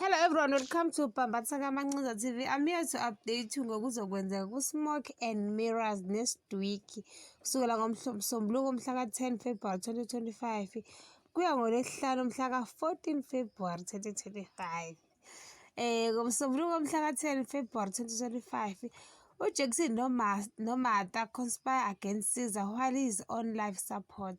Hello everyone, welcome to Bhambatha Kamancinza TV. I'm here to update you ngokuzokwenzeka ku-Smoke and Mirrors nesidwiki kusukela ngomsombuluko umhla ka-10 February 2025 kuya ngolwesihlanu umhla ka-14 February 2025. Eh ngomsombuluko umhla ka-10 February 2025 uJackson Nomata conspire against Caesar while he is on life support.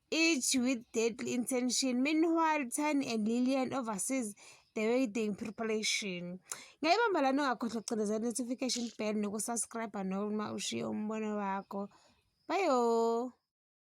each with deadly intention. Meanwhile, Tani and Lillian oversees the wedding preparation. Ngayibamba lana ungakhohlwa ukucindezela notification bell nokusubscribe noma ushiye umbono wakho. Bayo!